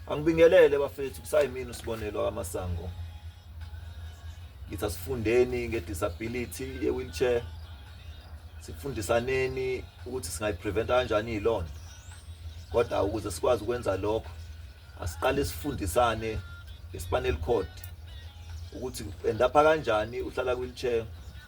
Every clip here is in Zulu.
Angibingelele bafethu kusayimini usibonelo kamasango. Ngithi asifundeni ngedisability ye-wheelchair. Sifundisaneni ukuthi singayipreventa kanjani ilonto. Kodwa ukuze sikwazi ukwenza lokho asiqale sifundisane ngeSpanel Code ukuthi endapha kanjani uhlala kwi-wheelchair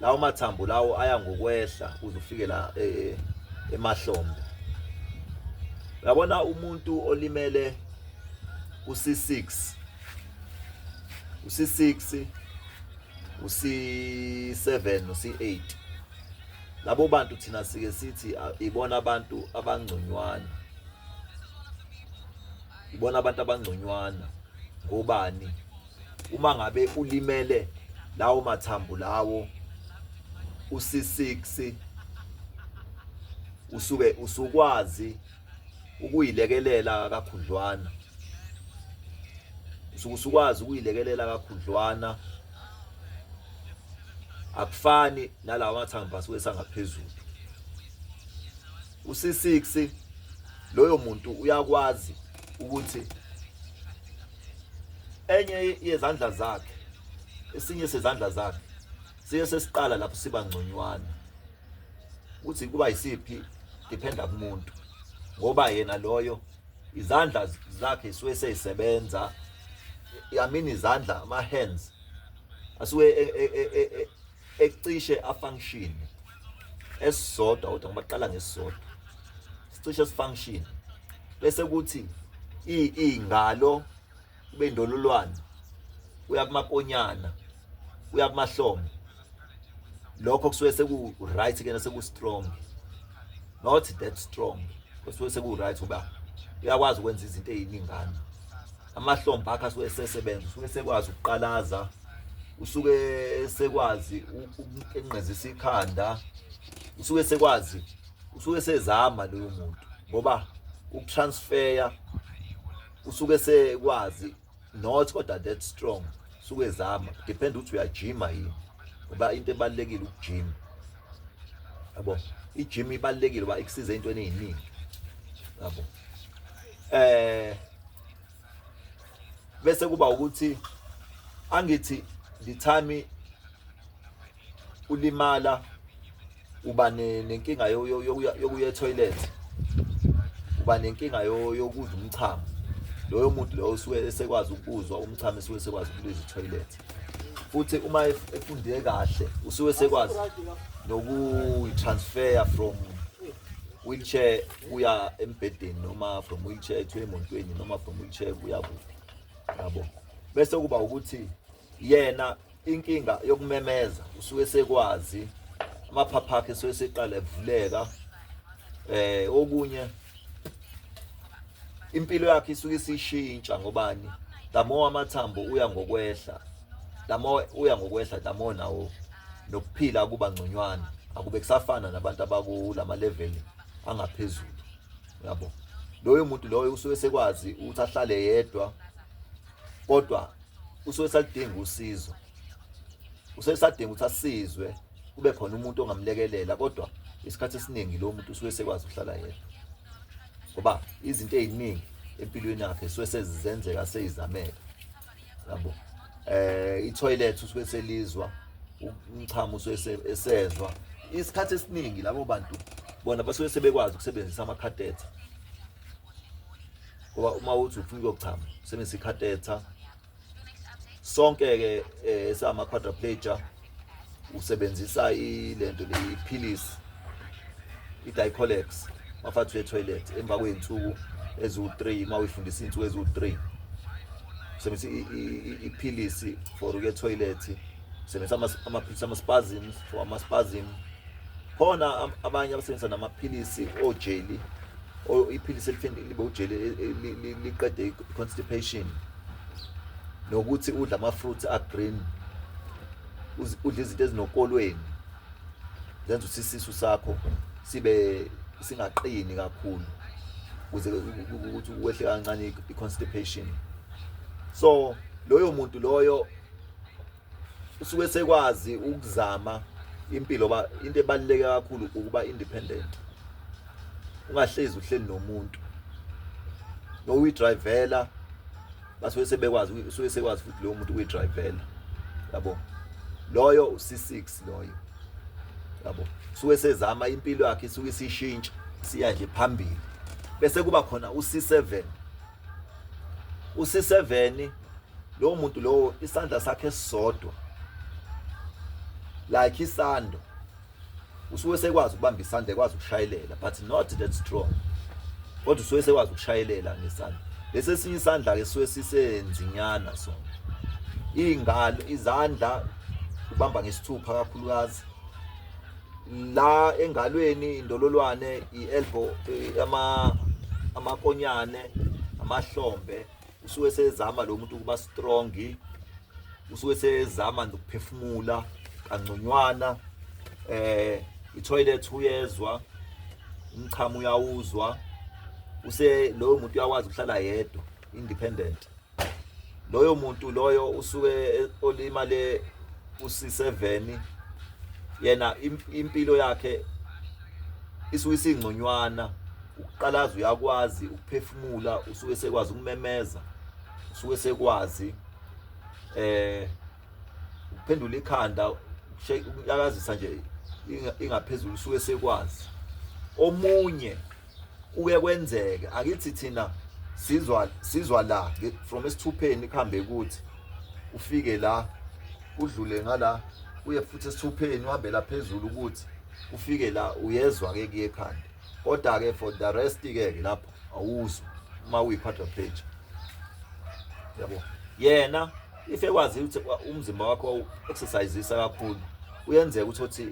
lawo mathambo lawo aya ngokwehla uze ufike la e, e, emahlombe yabona umuntu olimele uC6 uC6 uC7 uC8 labo bantu thina sike sithi ibona abantu abangconywana ibona abantu abangconywana ngobani Uma ngabe ulimele lawo mathambo lawo usi6 usuke usukwazi ukuyilekelela kakhudlwana usuke usukwazi ukuyilekelela kakhudlwana akufani nalawa mathambo asuke sangaphezulu usi6 loyo muntu uyakwazi ukuthi enye yezandla zakhe esinye sezandla zakhe siye sesiqala lapho siba ngconywana ukuthi kuba yisiphi dependa kumuntu ngoba yena loyo izandla zakhe suke seyisebenza yamini izandla ama hands asuke e, e, e, ecishe afunction esisodwa kodwa ngibaqala ngesisodwa sicishe sifunction bese kuthi i ingalo kube ndolulwane uya kumakonyana uya kumahlombe lokho kusuke seku right kena seku strong not that strong kusuke seku right uba uyakwazi ukwenza izinto eziningana amahlombe akhe asuke esesebenza usuke esekwazi ukuqalaza usuke esekwazi ukunqezisa ikhanda usuke esekwazi usuke sezama loyo muntu ngoba ukutransfera usuke sekwazi not kodwa that strong usuke ezama depend ukuthi uyajima yini ngoba into ebalekile ukujima yabo ijim ibalekile ba ikusiza into eningi yabo eh bese kuba ukuthi angithi the time ulimala uba nenkinga yokuya etoilet uba nenkinga yokuza umchamo loyo muntu loyo usuke esekwazi ukuzwa umchamo esuke esekwazi ukuliza itoilet futhi uma efunde kahle usuke esekwazi nokuyi-transfer from wheelchair uya embhedeni noma from wheelchair to emontweni noma from wheelchair kuya kuphi yabo bese kuba ukuthi yena inkinga yokumemeza usuke sekwazi amaphapha akhe suke seqala evuleka eh okunye impilo yakhe isuke isishintsha ngobani the more amathambo uya ngokwehla the more uya ngokwehla the more nawo nokuphila kuba ngconywana akube kusafana nabantu abakulama level angaphezulu yabo loyo muntu loyo usuke sekwazi ukuthi ahlale yedwa kodwa usuke salidinga usizo usuke sadinga ukuthi asizwe kube khona umuntu ongamlekelela kodwa isikhathi esiningi lo muntu usuke sekwazi ukuhlala yedwa ngoba izinto eziningi empilweni yakhe suke sezizenzeka seyizamela yabo eh itoilet usuke selizwa umchamo usuke esezwa isikhathi esiningi labo bantu bona basuke sebekwazi ukusebenzisa amakhatetha ngoba uma uthi ufuna ukuyochama usebenzisa ikhatetha sonke-ke um eh, sama-quadraplager usebenzisa ilento leyiphilisi i-dicolex mafathi uye-toilet emva kwey'nsuku eziwu-three uma uyifundisa iy'nsuku eziwu-three usebenzisa iphilisi for uye-toilet usebenzisa amaphilisi ama-spasm for ama-spasm khona abanye abasebenzisa namaphilisi ojeli iphilisi elifeni libe ujeli liqede i-constipation nokuthi udla ama-fruits a-green udla izinto ezinokolweni zenza ukuthi isisu sakho sibe singaqini kakhulu ukuze ukuthi wehle kancane i-constipation so loyo muntu loyo usuke sekwazi ukuzama impilo ba into ebaluleke kakhulu ukuba independent ungahlezi uhleli nomuntu no uyidrivela basuke sebekwazi usuke sekwazi futhi lowo muntu ukuyidrivela yabo loyo u6 loyo yabo suke sezama impilo yakhe isuke isishintsha siya nje phambili bese kuba khona u7 usiseveni lowo muntu lowo isandla sakhe esisodwa like isando usuke sekwazi ukubamba isandla ekwazi ukushayelela but not that strong kodwa usuke sekwazi ukushayelela ngesandla lesi esinye isandla-ke suke sisenzinyana sona iy'ngalo izandla ubamba ngesithupha kakhulukazi la engalweni indololwane ielbow eh, ama amakonyane amahlombe usuke sezama lo muntu ukuba strong usuke sezama nokuphefumula kangconywana eh itoilet uyezwa umchamo uyawuzwa use lowo muntu uyakwazi ukuhlala yedwa independent loyo muntu loyo usuke e, olima le usiseveni yena impilo yakhe isuke isingconywana ukuqalaza uyakwazi ukuphefumula usuke sekwazi ukumemeza usuke sekwazi eh ukuphendula ikhanda ukushayakazisa nje ingaphezulu usuke sekwazi omunye kuke kwenzeke akithi thina sizwa sizwa la from esithupheni kuhambe kuthi ufike la udlule ngala uye futhi esithupheni uhambe la phezulu ukuthi ufike la uyezwa ke kuye ekhanda kodwa ke for the rest ke ke lapho awuzwa uma uyi part of page yabo yena if ekwazi ukuthi umzimba wakho wawu-exercisisa kakhulu uyenzeka ukuthi othi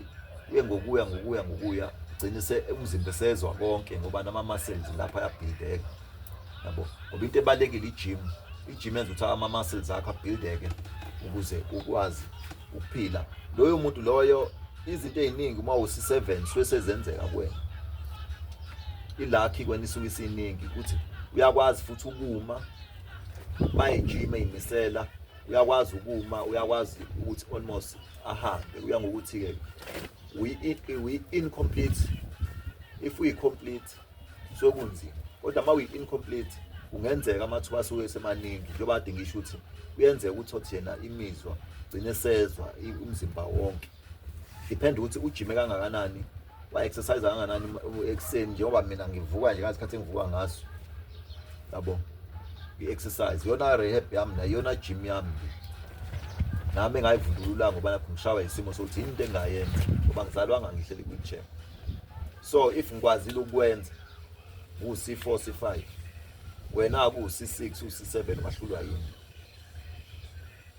uye ngokuya ngokuya ngokuya gcine se umzimba esezwa konke ngoba nama-muscles lapho ayabhideka yabo ngoba into ebalulekile ijim ijim yenza ukuthi ama-muscles akho abhildeke ukuze ukwazi ukuphila loyo muntu loyo izinto ey'ningi uma usi-seven suke sezenzeka kwena ilakhi kwena isuke isiningi ukuthi uyakwazi futhi ukuma bayijima imisela uyakwazi ukuma uyakwazi ukuthi almost ahambe uya ngokuthi ke we incomplete if we complete so kunzima kodwa uma we incomplete kungenzeka amathuba asuke semaningi njengoba kade ngisho ukuthi kuyenzeka ukuthi othi yena imizwa gcine sezwa umzimba wonke depend ukuthi ujime kangakanani wa-exercise kangakanani ekuseni njengoba mina ngivuka nje ngasikhathi engivuka ngaso yabo i-exercise yona rehab yami nayo yona gym yami nami engayivundulula ngoba lapho ngishawa isimo sokuthi yini into engayenza ngoba ngizalwanga ngihleli kwi-chair so if ngikwazile ukwenza kusi-4 si-5 wena akusi-6 usi-7 wahlulwa yini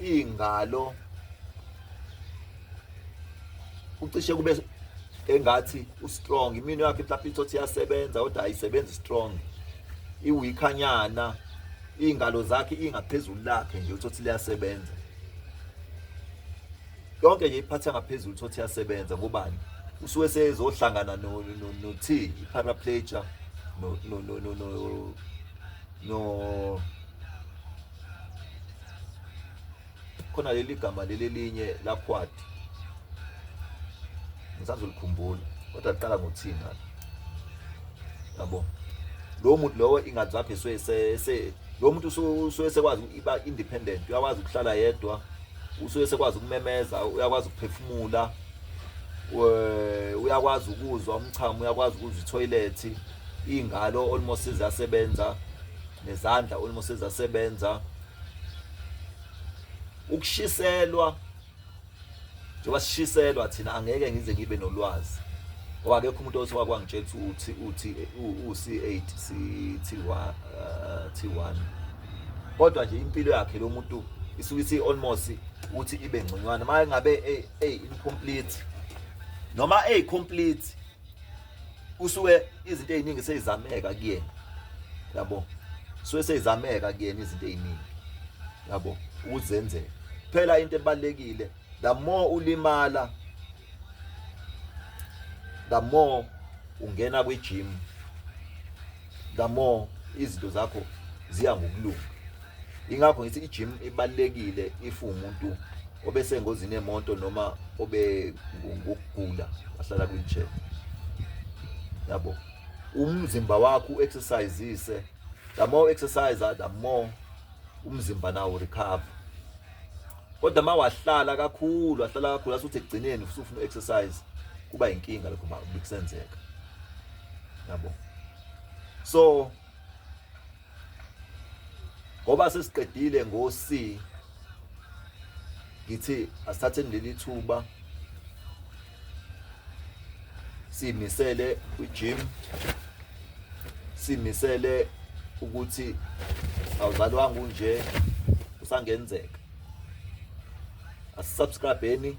ingalo ucishe kube engathi ustrong imino yakhe mhlawumbe ithothi iyasebenza kodwa ayisebenzi strong iwikanyana iy'ngalo zakhe ingaphezulu lakhe nje uthothi liyasebenza yonke nje iphatha ngaphezulu uthothi iyasebenza ngobani usuke sezohlangana no-t i-paraplegia no khona leli gama leli elinye lakhwadi ngisazolikhumbula kodwa liqala ngothini ngalo yabo lo muntu lowo ingathi lapho esuke se lo muntu usuke sekwazi iba independent uyakwazi ukuhlala yedwa usuke sekwazi ukumemeza uyakwazi ukuphefumula uyakwazi ukuzwa umchamo uyakwazi ukuzwa ithoyilethi Ingalo almost izasebenza nezandla almost izasebenza ukushiselwa njengoba sishiselwa thina angeke ngize ngibe nolwazi ngoba akekho umuntu othi wakwangitshela ukuthi uthi u-C8 T1 T1 kodwa nje impilo yakhe lo muntu isuke isi almost ukuthi ibe ngconywana maye ngabe ey incomplete noma ey complete usuke izinto eziningi seyizameka kuyena yabo suke seyizameka kuyena izinto eziningi yabo ukuzenzela phela into ebalekile the more ulimala the more ungena kwi gym the more izinto zakho ziya ngokulunga ingakho ngithi i-gym ibalekile if umuntu obesengozini yemoto noma obe ngokugula wahlala kwi-chair yabo umzimba wakho exercisise the more exercise the more umzimba nawo recover kodwa uma wahlala kakhulu wahlala kakhulu asuthi ekugcineni usufuna exercise kuba inkinga lokho uma kusenzeka yabo so ngoba sesiqedile ngo C ngithi asithathe leli thuba simisele kwi-gym simisele ukuthi awuzalwanga unje usangenzeka asisubscribeni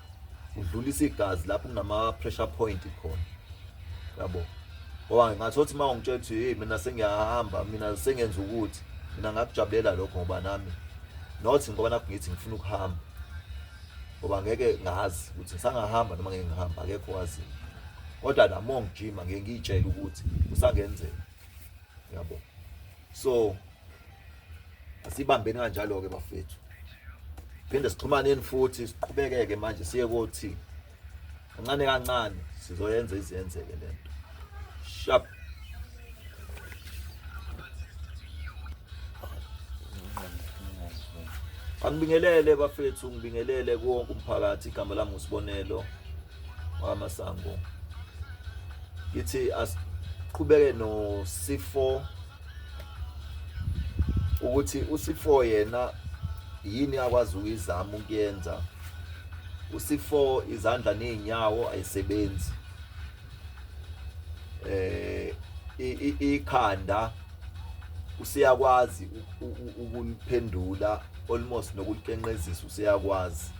udlulisa igazi lapho kunama pressure point khona yabo ngoba ngathothi uma ungitshela ukuthi hey mina sengiyahamba mina sengenza ukuthi mina ngakujabulela lokho ngoba nami not ngoba nakho ngithi ngifuna ukuhamba ngoba ngeke ngazi ukuthi ngisangahamba noma ngeke ngihamba akekho wazi kodwa namo ngijima ngeke ngiyitshele ukuthi kusangenzeka yabo so asibambeni kanjalo ke bafethu phinde sixhumaneni futhi siqhubekeke manje siye kothi kancane kancane sizoyenza izenzeke lento sharp angibingelele bafethu ngibingelele konke umphakathi igama lami usibonelo wamasango ngithi asiqhubeke nosifo ukuthi usifo yena yini akwazi ukuyizama ukuyenza usifo izandla nezinyawo ayisebenzi eh ikhanda usiyakwazi ukuliphendula almost nokulikenqezisa usiyakwazi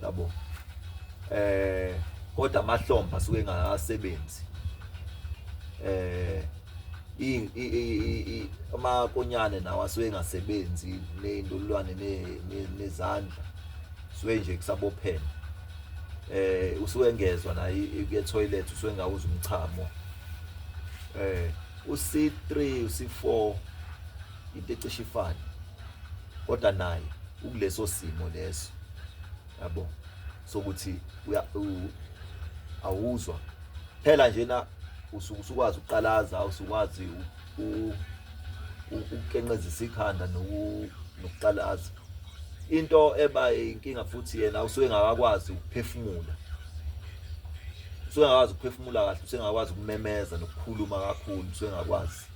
yabo eh kodwa amahlomba suke engasebenzi eh i amakonyane nawo asuke engasebenzi nezindolwane nezandla suke nje kusabophela eh usuke engezwa na ke toilet usuke engawuza umchamo eh uC3 uC4 into ecishe ifane kodwa naye ukuleso simo leso yabo sokuthi awuzwa phela njena usuke usukwazi ukuqalaza usukwazi ukukenqezisa ikhanda nokuqalaza into eba inkinga futhi yena usuke engakakwazi ukuphefumula usuke engakwazi ukuphefumula kahle usuke engakwazi ukumemeza nokukhuluma kakhulu usuke engakwazi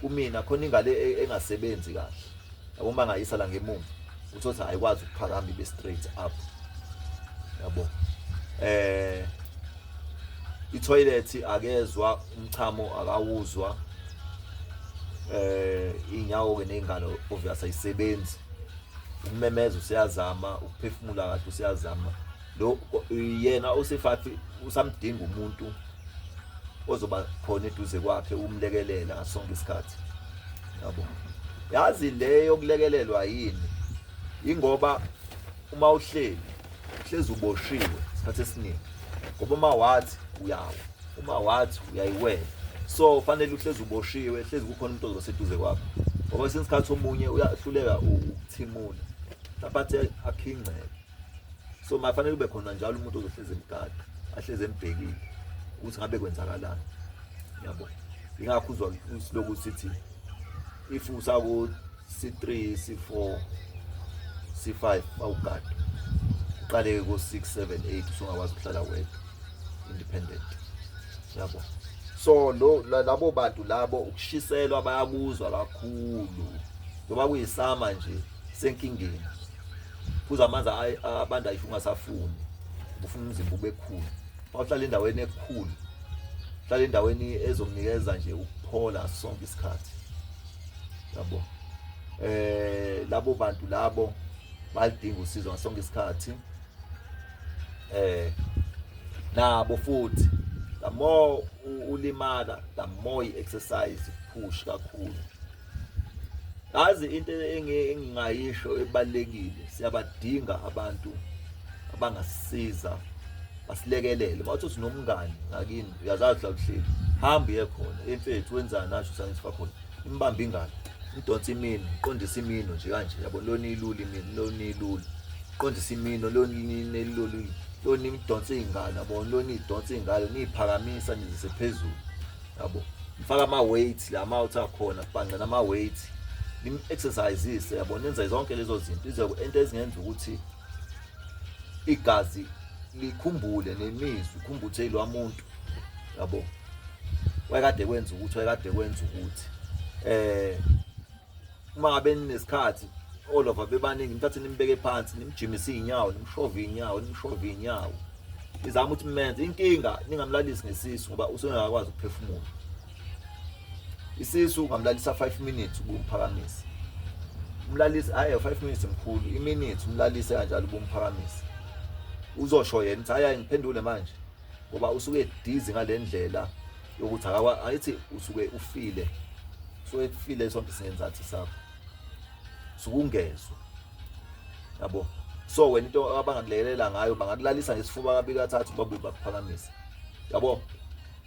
kumina khona ingane e-, engasebenzi kahle yabo uma ngayisa la ngemuva uthothi ayikwazi ukuphakama ibe straight up yabo eh itoilet akezwa umchamo akawuzwa eh inyawo ke nezingalo obvious ayisebenzi ukumemeza usiyazama ukuphefumula kahle usiyazama lo yena usifathi usamdinga umuntu ozoba khona eduze kwakhe umlekelela ngasonke isikhathi yabo yazi le yokulekelelwa yini ingoba uma uhleli uhlezi uboshiwe isikhathi esiningi ngoba uma wathi uyawa uma wathi uyayiwela so fanele uhlezi uboshiwe hlezi kukhona umuntu ozoba seduze kwakho ngoba kwesinye isikhathi omunye uyahluleka ukuthimula mhlawumbe athi akhingceke so mafanele kube khona njalo umuntu ozohlezi emgada ahlezi embhekile ukuthi ngabe kwenzakalani yabo ingakho uzwa usiloku sithi if usaku c3 c4 c5 awugada uqaleke ko 6 7 8 usungakwazi ukuhlala wedwa independent yabo so lo labo bantu labo ukushiselwa bayakuzwa kakhulu ngoba kuyisama nje senkingeni phuza amanzi abanda if ungasafuni ufuna umzimba ubekhulu mawuhlala endaweni ekhulu hlala endaweni ezomnikeza nje ukuphola sonke isikhathi yabo eh labo bantu labo balidinga usizo ngasonke isikhathi eh nabo futhi the more ulimala the more i-exercise push kakhulu Yazi into engingayisho ebalekile siyabadinga abantu abangasiza basilekelele bathi sinomngani ngakini uyazazi la kuhleli hamba uye khona emfethu wenzani asho science fakhona imbamba ingane idonsa imino iqondisa imino nje kanje yabo lona ilula imino lona ilula iqondisa imino lona ilula lona idonsa iy'ngane yabo lona idonsa iy'ngane niyiphakamisa nizise phezulu yabo ngifaka ama weights la mouth akhona kubhanca nama weights nim exercises yabo nenza zonke lezo zinto ize into ezingenza ukuthi igazi likhumbule nemizwa ukhumbuthe lo muntu yabo wayekade kwenza ukuthi wayekade kwenza ukuthi eh uma ngabe ninesikhathi all of bebaningi nithathe nimbeke phansi nimjimisa izinyawo nimshove izinyawo nimshove izinyawo izama ukuthi menze inkinga ningamlalisi ngesisu ngoba usengakwazi ukuphefumula isisu ungamlalisa 5 minutes ubumphakamisa umlalisi hayi 5 minutes mkhulu iminute umlalise kanjalo ubumphakamisa uzosho yena ukuthi hayi ngiphendule manje ngoba usuke dizi ngalendlela yokuthi akawa ayithi usuke ufile so ekufile sonke singenzathi sakho sukungezwe yabo so wena into abangakulekelela ngayo bangakulalisa ngesifuba kabili kathathu babuye bakuphakamise yabo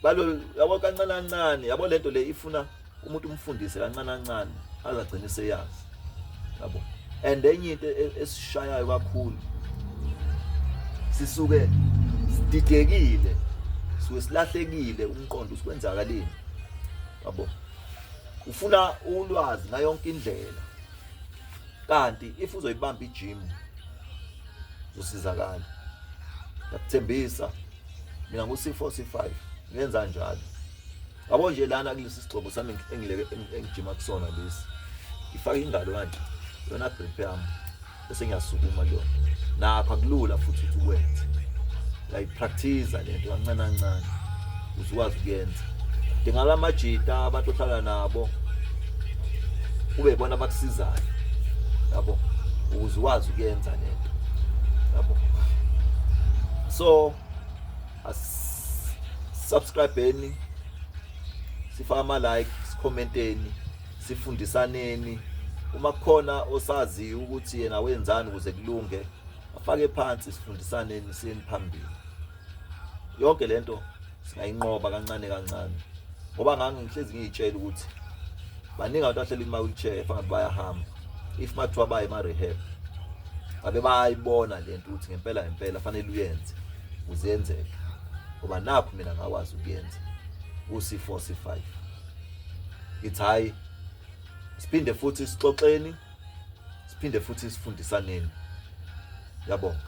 balo yabo kancane kancane yabo lento le ifuna umuntu umfundise kancane kancane azagcine seyazi yabo and enye into e, esishayayo kakhulu sisuke sididekile suke silahlekile umqondo usikwenzakaleni yabo ufuna ulwazi ngayo yonke indlela kanti if uzoyibamba ijim uzosizakala ngiyakuthembisa mina ngu-c4 c5 ngenza njalo Yabo nje lana kulesi sigcobo sami engileke engijima kusona lesi. Ngifaka ingalo kanje. Yona grip yami. Bese ngiyasukuma kuyona. Nakho akulula futhi ukuthi ukwenze. Uyayipractice le nto kancane kancane. Uzikwazi ukuyenza. Dingala amajita abantu ohlala nabo. Ube bona abakusizayo. Yabo ukuze ukwazi ukuyenza le nto. Yabo. So subscribeni sifaka ama like sikhomenteni sifundisaneni uma kukhona osazi ukuthi yena wenzani ukuze kulunge afake phansi sifundisaneni siyeni phambili yonke lento singayinqoba kancane kancane ngoba ngange ngihlezi ngiyitshela ukuthi baningi abantu ahleli kuma wheelchair fangathi bayahamba if mathiwa baye ma rehab abe bayibona lento ukuthi ngempela ngempela fanele uyenze uzenzele ngoba nakho mina ngakwazi ukuyenza usi4 c5 it's high siphinde futhi sixoxeni siphinde futhi sifundisaneni yabonga